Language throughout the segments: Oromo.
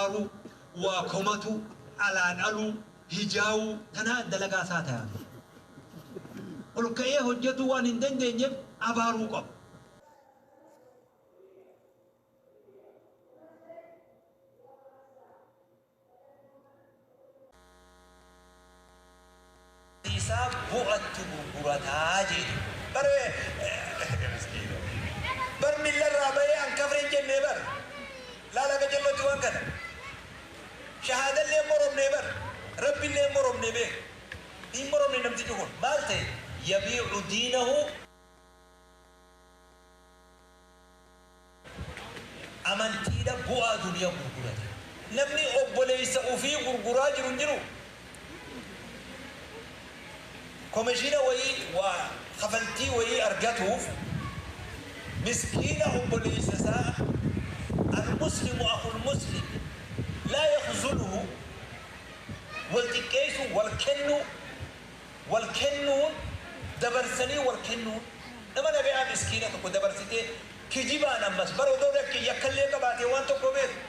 aruu waa komatuu alaa dhaluu hijaawuu tanaa dalagaa isaa tayaafii olka'ee hojjatuu waan hin dandeenyeef abaaruu qaba. isaa bu'attu gurgurataa jeedhe bar miskiina bar milla irraa bahee an kafre hin jennee bar laala gajallootti waan kana shahaadallee hin moromnee bar rabbillee hin moromnee beek hin moromne namtichi kun maal ta'e yabiicu diinahu Amantiidha bu'aa duniya gurgurate. Namni obboleessa ufii gurguraa jiru hin jiruu? Komeshiina wayii waa kafaltii wayii argatuuf miskiina obboleessa isaa Al-muslimu akhul muslim laa yakhzuluhu wal xiqqeessuu wal kennuu Wal kennuun, dabarsanii wal kennuun, nama nagayaa miskiina tokko dabarsitee kijibaan ammas bar odoo dakki yakka illee qabaatee waan tokko beeku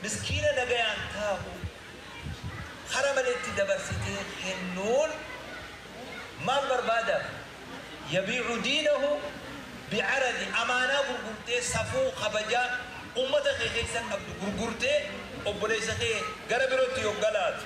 miskiina nagayaan taa'u kara maleetti dabarsitee kennuun maal barbaadaaf yabiicu diinahu bicaradi amaanaa gurgurtee safuu kabajaa ummata kee keessa qabdu gurgurtee obboleessa kee gara birootti yogga laatu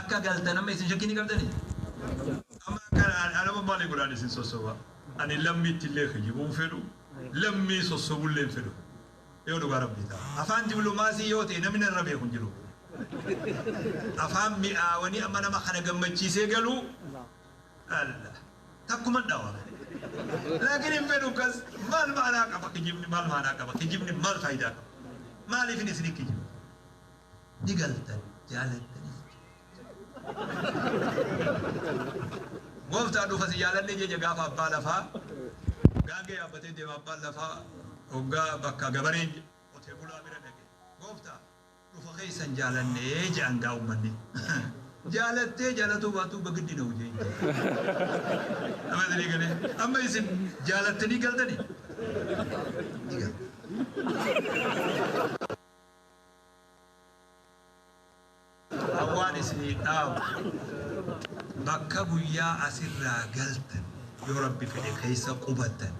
Akka galtan amma isin shakkii ni qabdanii? Amma akka ana amma maali godhaan isin sossoba? Ani lammiitti illee kijibuu hin fedhu, lammii sossobu illee hin fedhu. Yoo dhugaa Rabbii ta'a. Afaan diplomaasii yoo ta'e namni narra beeku hin jiru. Afaan mi'aawanii amma nama kana gammachiisee galuu alla takkuman dhawa. Laakiin hin fedhu kas maal maanaa qaba kijibni maal maanaa qaba kijibni maal faayidaa qaba? Maaliifin isin hin kijibu? ni galtan jaalattanii gooftaa dhufa si jaalannee jecha gaafa abbaa lafaa gaangee yaabbatee deema abbaan lafaa hoggaa bakka gabareen qotee bulaa bira dhaqe gooftaa dhufa keessan jaalannee jedhan gaa ummanni jaalattee jaalatuu baatuu bagiddi na hojii amma isin eegalee amma isin jaalattanii galtanii ni galtan. Hawwaan isiniif dhaamu bakka guyyaa asirraa galtan yoo rabbi fedhe keessa qubattan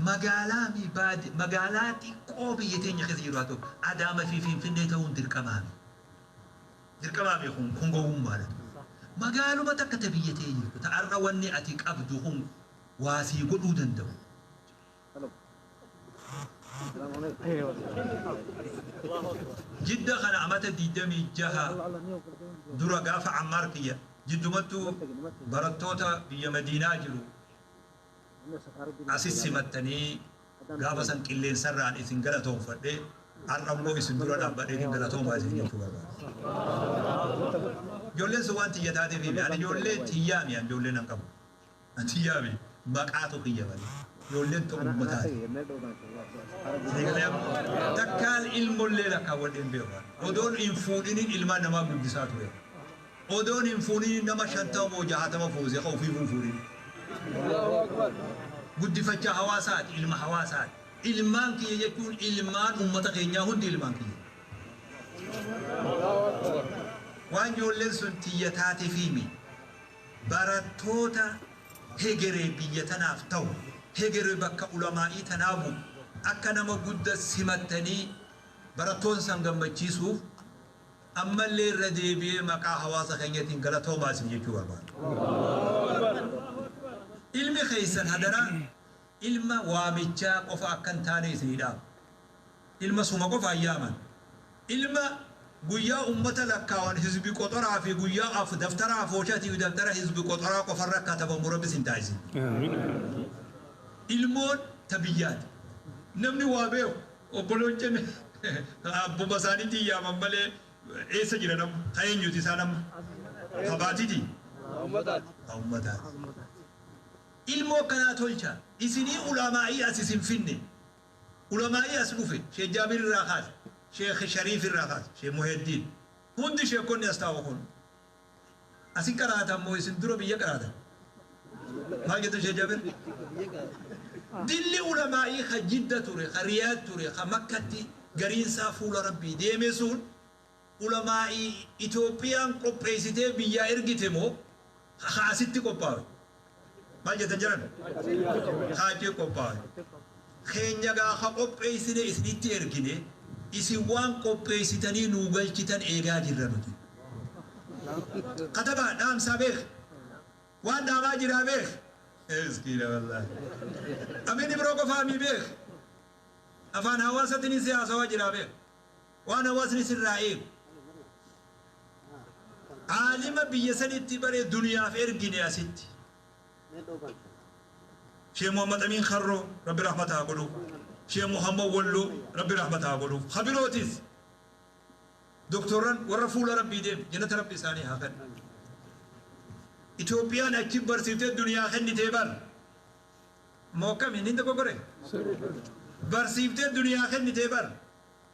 magaalaa mii baadi magaalaa xiqqoo biyya teenya keessa jiru haa ta'u Adaama fi Finfinnee ta'uun dirqamaa mii dirqamaa mii kun kun gowwummaadha magaaluma takka ta biyya tee jirtu ta har'a wanni ati qabdu kun waa sii godhuu danda'u Jidda kana amata 26 dura gaafa Ammaar kiyya jiddumattu barattoota biyya Madiinaa jiru asi simattanii gaafa san qilleensarraan isin galatoomfadhe har'a immoo isin dura dhaabbadheetiin galatoomaa isin jechuu barbaada. Ijoolleen sun waan tiyya taateefiimi. Ani ijoollee tiyyaa mi an ijoollee nan qabu. Atii yaami maqaatu kiyya malee ijoolleen tun ummataati sii galee amma takkaan ilmollee lakkaawwadhee hin beeku ani odoon hin fuudhiniin ilmaan namaa guddisaa ture odoon hin fuuniniin nama shantama moo jahatama fuuse ka ufiifuu hin fuudhiniin guddifachaa hawaasaati ilma hawaasaati ilmaan kiyya jechuun ilmaan ummata keenyaa hundi ilmaan kiyya waan ijoolleen sun tiyya taatefiimi Barattoota hegere biyya tanaaf tahu, hegere bakka ulamaa'ii tanaa bu'u akka nama gudda simattanii barattoota san gammachiisuuf ammallee irra deebi'ee maqaa hawaasa keenyatiin galatoomaa isin jechuu barbaada. Ilmi keessan hadaraa ilma waamichaa qofa akka hin taane isinii dhaama. Ilma suma qofaan yaaman. Ilma guyyaa ummata lakkaawan hizbi qoxoraa fi guyyaa af daftara afooshatii fi daftara hizbi qoxoraa qofarra katabamu rabbi sin taasisin. Ilmoon ta biyyaati. Namni waa beeku obboloon cen abbuma isaanitiin yaaman malee eessa jiran amma? Ta eenyuti isaan amma? Ta baatiti? Ta ummataati. Ilmoo akkanaa tolcha. Isinii ulaamaa'ii as isin finne. Ulamaa'ii as dhufe, Sheek Jaabir irraa kaase, Sheek Shariif irraa kaase, Sheek Muhiyaddiin, hundi sheekkonni as taa'u kun. Asi qaraatan moo isin dura biyya qaraatan? Maal jettan Sheek Jaabir? Dilli ulamaa'ii ka Jidda ture, ka Riyaad ture, ka Makkatti gariin isaa fuula Rabbii deeme sun, Ulamaa'ii Itoophiyaan qopheessitee biyyaa ergite moo haa asitti qophaawe? Maal jettan jaran? Haa achi qophaawe. Keenya gaa ha qopheessine isinitti ergine isin waan qopheessitanii nuu galchitan eegaa jirra nuti. Katabaa dhaamsaa beeki. Waan dhaamaa jiraa beeki. Miskiina wallaahi. Amin Ibroo qofaa mii beeki. Afaan hawaasatinii si haasawaa jiraa beeki. Waan hawaasni sirraa eegu. Aalima biyya sanitti bare duniyaaf ergine asitti. Shee Muhammad Amiin Karroo, Rabbi rahmata haa godhuuf. Shee Muhammad Walloo, Rabbi rahmata haa godhuuf. Ka birootis Doktorran warra fuula Rabbii deeme, jannata Rabbi isaanii haa kennu. Itoophiyaan achi barsiiftee duniyaa kennitee bar. Moo akkami? Niin dogoggoree? Barsiiftee duniyaa kennitee bar.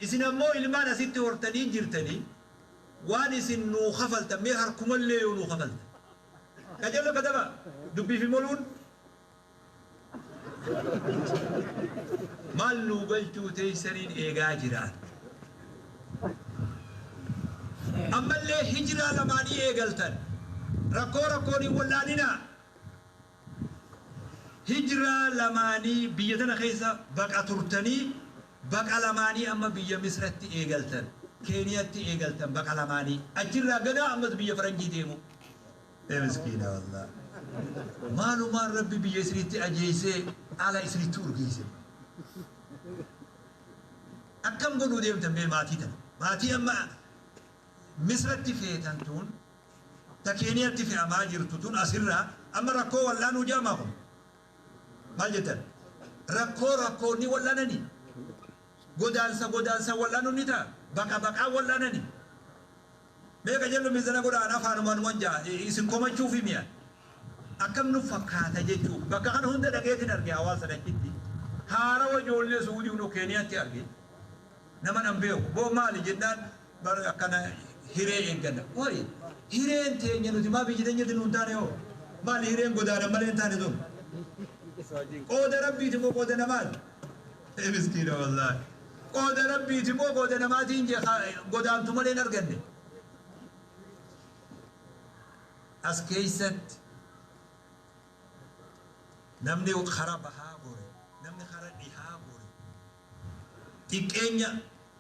Isin ammoo ilmaan asitti hortanii jirtanii waan isin nuu kafaltan mee harkumallee yoo nuu kafaltan ka jennu katabaa dubbii fi moluun maal nuu galchuu teessaniin eegaa jiraan ammallee hijraa lamaanii eegaltan rakkoo rakkoon hin wal'aaninaa. Hijraa lamaanii biyya tana keessa baqa turtanii baqa lamaanii amma biyya misratti eegaltan keeniyatti eegaltan baqa lamaanii achirraa ganaa ammas biyya faranjii deemuu ee miskiina wallaah maalumaan rabbi biyya isinitti ajeeysee ala isinitti urgeeyse akkam godhuu deemtan mee maatii tana maatii amma misratti feetan tuun ta Keeniyatti fe'amaa jirtu tun asirra amma rakkoo wal'aanuu jedhamaa kun? Maal jettan? Rakkoo rakkoon ni wal'anani? Godaansa godaansaan wal'aanuun ni ta'a? Baqa baqaan wal'aanani? Mee qajello mizana godha an afaanumaan wan ja'a isin komachuufi mi an? Akkam nuf fakkaata jechuuf bakka kana hunda dhaqeetin arge hawaasa dachitti haarawa ijoollee suudiun ok Keeniyatti arge naman an beeku boo maali jennaan Bar akkana hiree eegganna. Qoy hireen teenya nuti maaf ijji teenyatti nuu hin taane hoo? Maali hireen godaanan malee hin taane tun? Qooda Rabbiiti moo qooda namaati? Ee miskiina wallaahi. Qooda Rabbiiti moo qooda namaati hin jee haa godaantu malee hin arganne. As keessatti namni kara bahaa gore, namni kara dhihaa gore, Xiqqeenya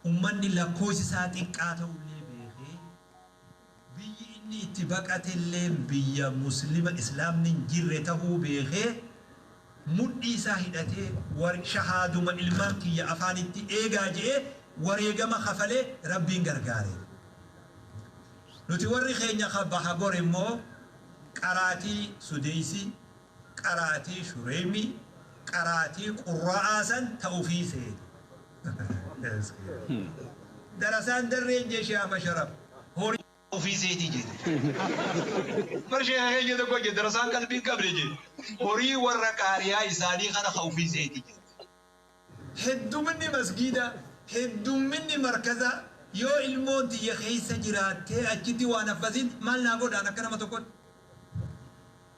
ummanni lakkoofsi isaa xiqqaa ta'ullee beekee, biyyi inni itti baqatelleen biyya Muslima, Islaamni hin jirre ta'uu beekee, mudhii isaa hidhatee war shahaaduma ilmaan kiyya afaanitti eegaa je'ee wareegama kafalee Rabbiin gargaareef. Nuti warri keenya ka baha gore immoo qaraatii, sudeessi, qaraatii shureymii qaraatii qurra'aa san ta ufii seete darasaan darreen jeshi ama sharaf horii ta ufii seeti jete bar sheeka keenya tokko je darasaan qalbii hin qabne je horii warra qaariyaa isaanii kana ka ufii seeti jete Hedduminni masgiidaa, heddumminni markazaa yoo ilmoon tiyya keessa jiraattee achitti waan haffaziin maal naa godhaan akka nama tokkotti?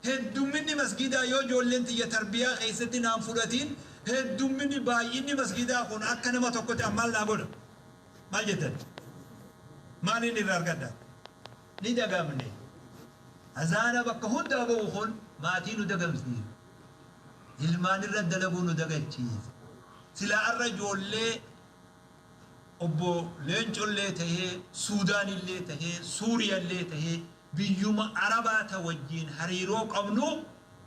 Heddumminni masgiidaa yoo ijoolleen tiyya tarbiyaa keessatti naan fudhatiin heddumminni, baay'inni masgiidaa kun akka nama tokkotti an maal naa godha? Maal jettan? Maaliin irraa argadha? Ni dagamne. Azaana bakka hundaa bahu kun maatii nu dagamsiisa. Ilmaan irra dalaguu nu dagachiise. Silaa har'a ijoollee Obbo Leencollee tahee, Suudaanillee tahee, Suuriyallee tahee, biyyuma Arabaa ta wajjiin hariiroo qabnu,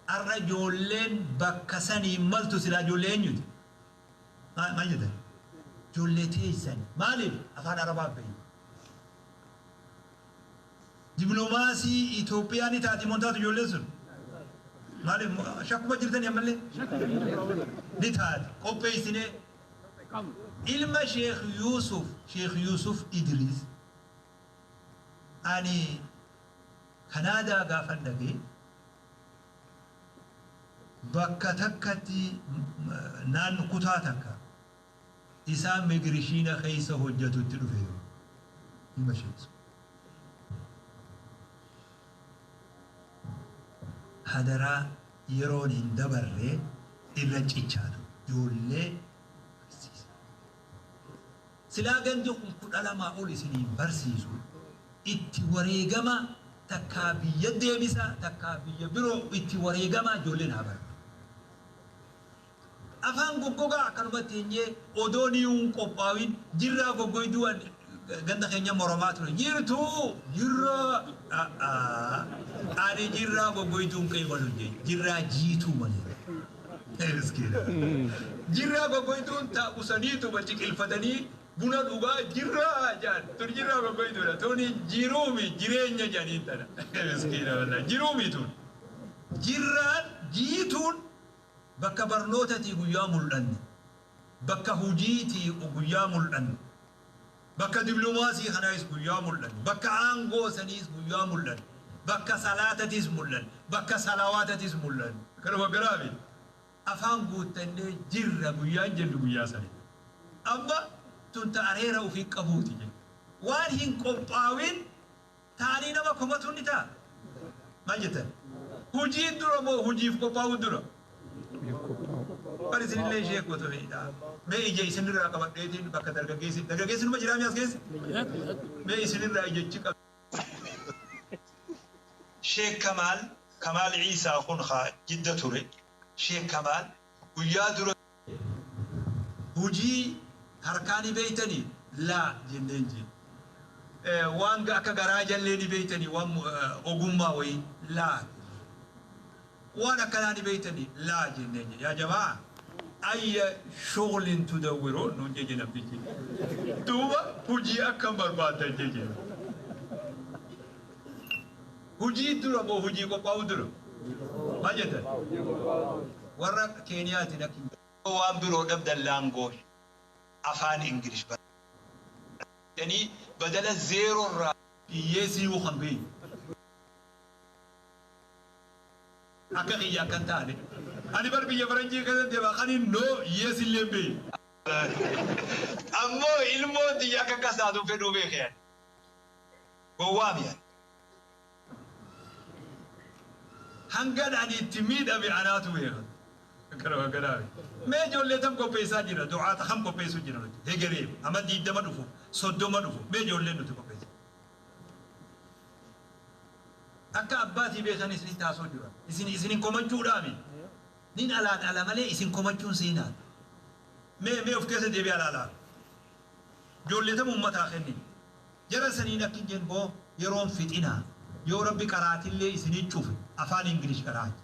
har'a ijoolleen bakka sanii hin maltu silaa ijoollee eenyuti? Maal jettan? Ijoollee teessani. Maaliif? Afaan Arabaa beeytu. Diplomaasii Itoophiyaa ni taati moo hin taatu ijoolleen sun? Maaliif shakkuma jirtanii ammallee? Ni taati. Qopheessinee ilma Sheekh Yuusuf, Sheekh Yuusuf Idiriis ani Kanaadaa gaafan dhaqe bakka takkatti naanno kutaa takka. isaa megirishiina keessa hojjatutti dhufe yoo ilma ishee dhisu hadaraa yeroon hin dabarre irra cichaa ture ijoollee barsiisa silaa gandi kun kudha lamaa ol isiniin barsiisu itti wareegama takkaa biyya deebisa takkaa biyya biroo itti wareegama ijoolleen haa baratu Afaan goggogaa akkanumatti enyee odoo niyuu hin qophaawin jirraa goggoyduu an ganda keenyan moromaa ture jirtuu jirraa a'aa ani jirraa goggoyduu hin qeebalu hin jeen jirraa jiituu malee Ee miskiina jirraa goggoyduun ta usaniituma ciqilfatanii buna dhugaa jirraa jaan tun jirraa goggoyduudha tuni jiruumi jireenya janiin tana miskiina wallahi jiruumi tun jirraan jiituun Bakka barnoota tii guyyaa mul'anne bakka hujii tii guyyaa mul'anne bakka diblomaasii kanaayis guyyaa mul'anne bakka aangoo saniis guyyaa mul'anne bakka salaata tiis mul'anne bakka salawaata tiis mul'anne. Kana waggaraa fi afaan guuttannee jirra guyyaan jennu guyyaa sani dha. Amma tun ta areera ufii qabuu ti jenna. Waan hin qophaawin Taanii nama komatuun ni ta'a? Maal jettan? Hujiin dura moo hujiif qophaa'uun dura? Bar isinillee ishee gootu miidha. Mee ija isinirraa qabadheetiin bakka dargaggeessi dargaggeessi numa jiraa mi'aas keessa? Mee isinirraa ija ichi qab. Sheek Kamaal, Kamaal Iisaa kun haa Jidda ture, Sheek Kamaal guyyaa dura. Hujii harkaa ni beeytanii? Laa jenneen jeen. Waan akka garaa jallee ni beeytanii? Waan ogummaa wayii? Laa jenneen. Waan akkanaa ni beeytanii? Laa jenneen jeen. Yaa jama'aa! Ayya shughulin tudawwiruun? nuun jee jee namtichi. Duuba hujii akkam barbaaddan? jee jeen. Hojii dura moo hojii qophaa'uu dura? Maal jettan? Warra Keeniyaatiin akka hin jedhamne. Yoo waan biroo dhabdan language afaan English barreessaa jedhanii badala zero irraa. Hiyyeessi iyyuu kan beeku. Akka kiyya akka hin taane. Ani bar biyya faranjii keessa deema kanin no, yes illee hin beeku. Ammoo ilmoon tiyya akka akkas taatu hin fedhuu beeke ani. Gowwaami ani. Hangan ani itti miidhame anaatu beeka. Akkanuma akkanaa miti. Mee ijoollee tam qopheessaa jirra? Du'aata kam qopheessuu jirra nuti? Hegereef, amma 20 dhufuuf, 30 dhufuuf, mee ijoollee nuti qopheessinu. Akka abbaatii beekan isinitti haasa'uu jirra. Isin isin hin komachuudhaa miti. Nin alaan ala malee isin komachuun seenaadha. Mee mee of keessa deebi'aa ilaalaa. Jolle tama ummataa kennine jara saniin akkin jen bo yeroon fixina yoo rabbi qaraatillee isini cufe afaan English qaraacha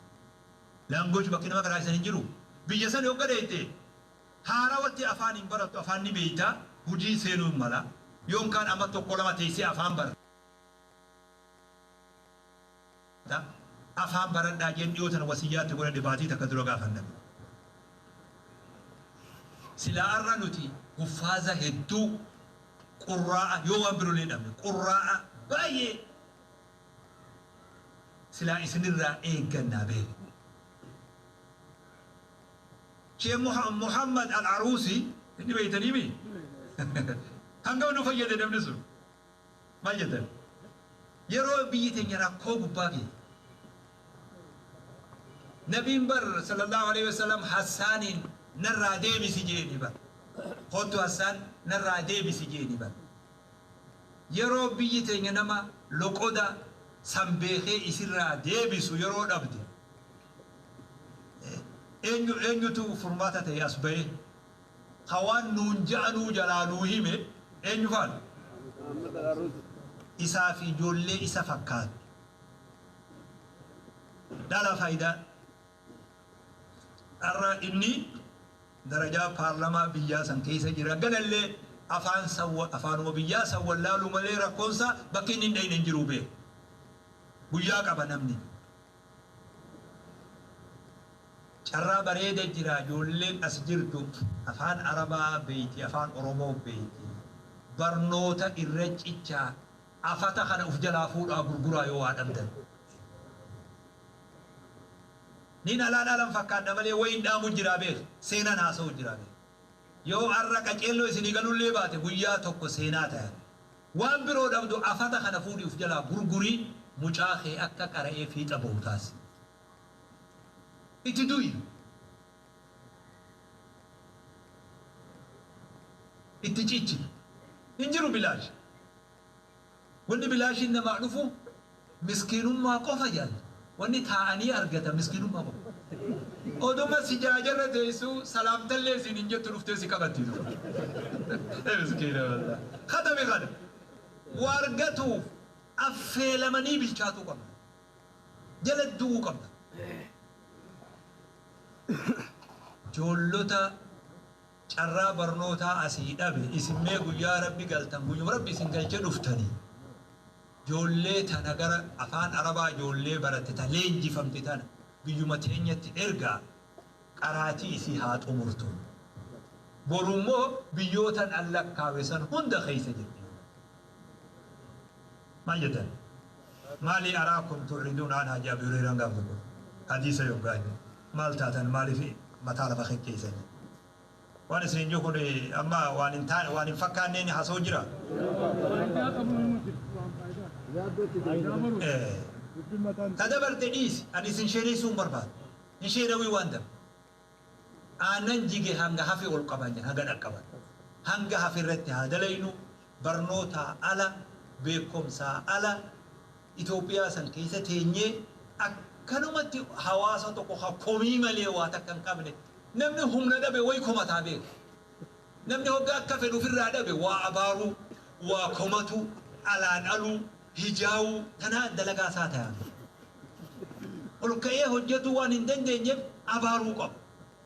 language bakki nama qaraachisan hin jiru biyya sani hogga dheyxee haarawatti afaan hin barattu afaan ni beyta hujii seenuu hin mala yoon kaan ama tokko lama teysee afaan barta ta, afaan baradhaa jeen dhiyoo tana wasiyyaa itti godhadhe baatii takka dura gaafan dhabe. Silaa arra nuti huffaaza hedduu qurraa'a yoo waan birolee dhabne qurraa'a baay'ee silaa isinirraa eeggannaa beek. Shee Muha, Muhammad Al-Aruusi inni beeytanii mii? Hangam nu fayyade namni sun. Maal jettan? Yeroo biyyi teenya rakkoo gubbaa geete, Nabiin bar Sallallaahu aleyhi wa sallam Hassaaniin narraa deebisi jeeni bar. Koottu Hassaan narraa deebisi jeeni bar. Yeroo biyyi teenya nama loqoda san beekee isirraa deebisu yeroo dhabde, eenyu eenyutu furmaata ta'ee as bahee? Ka waan nuun ja'anuu jalaa nuu hime eenyu faana? Isaa fi ijoollee isa fakkaattu. Dhala faayidaa dharraa inni darajaa paarlamaa biyyaa san keessa jira galallee afaan san afaanuma biyyaa san wallaaluu malee rakkoon isaa bakki inni hin dhayne hin jiru beeka. Guyyaa qaba namni. Carraa bareeda jira ijoolleen as jirtu afaan arabaa beeyti afaan oromoo beeyti barnoota irra cichaa afata kana uf jalaa fuudhaa gurguraa yoo waa dhabdan Nin alaa dhaalan fakkaadha malee wayin dhaamu jira beek seenan haasawu jira beek yoo arra qaceelloo isinii galullee baate guyyaa tokko seenaa taya. Waan biroo dhabdu afata kana fuudhii of jalaa gurgurii mucaa kee akka qara'ee fiixa bahu taasisi. Itti du'i. Itti cichi. Hin jiru bilaash. Wanni bilaashiin namaa dhufu. Miskiinummaa qofa jaalli. Wanni taa'anii argatan miskiinummaa qofa. Oduma sijaajarra teessuu salaamtallee siin hin jettu dhuftee si qabatti duuba. Miskiina wallaah. Khatami kana. Waa argatuuf affeelamanii bilchaatuu qabda. Jala du'uu qabda. Joollota. carraa barnootaa asii dhabe isin mee guyyaa rabbi galtan guyyuma rabbi isin galche dhuftani joollee tana gara afaan arabaa joollee baratte ta leenjifamte tana biyyuma teenyatti ergaa qaraatii isii haa xumurtu boru immoo biyyootan an lakkaawe san hunda keessa jirti yoo rabbi jedhe. Maal jetan maalii araa kun tu'riduuna anhaa jee abii hureyraan gaaf tokko hadiisa yoggaa hime maal taatan maaliif mataa lafa kekkeeysani waan isiniin juu kun amma waan hin taane waan hin fakkaanneen hasoo jira ta dabarte dhiisi ani isin sheeneysuu hin barbaadu hin sheenawii waan dabre Aannan jige hanga hafe ol qaba jedha hanga dhaqqaban. Hanga hafe irratti haa dalaynu, barnootaa ala, beekkomsaa ala, Itoophiyaa san keessa teenyee akkanumatti hawaasa tokko ka komii malee waa takka hin qabne, namni humna dhabe wayi komataa beeka. Namni hoggaa akka fedhu ufirraa dhabe waa abaaruu, waa komatuu, alaan aluu, hijaa'uu tanaa dalagaa isaa tayaaf. Ol ka'ee hojjatuu waan hin dandeenyeef abaaruu qaba.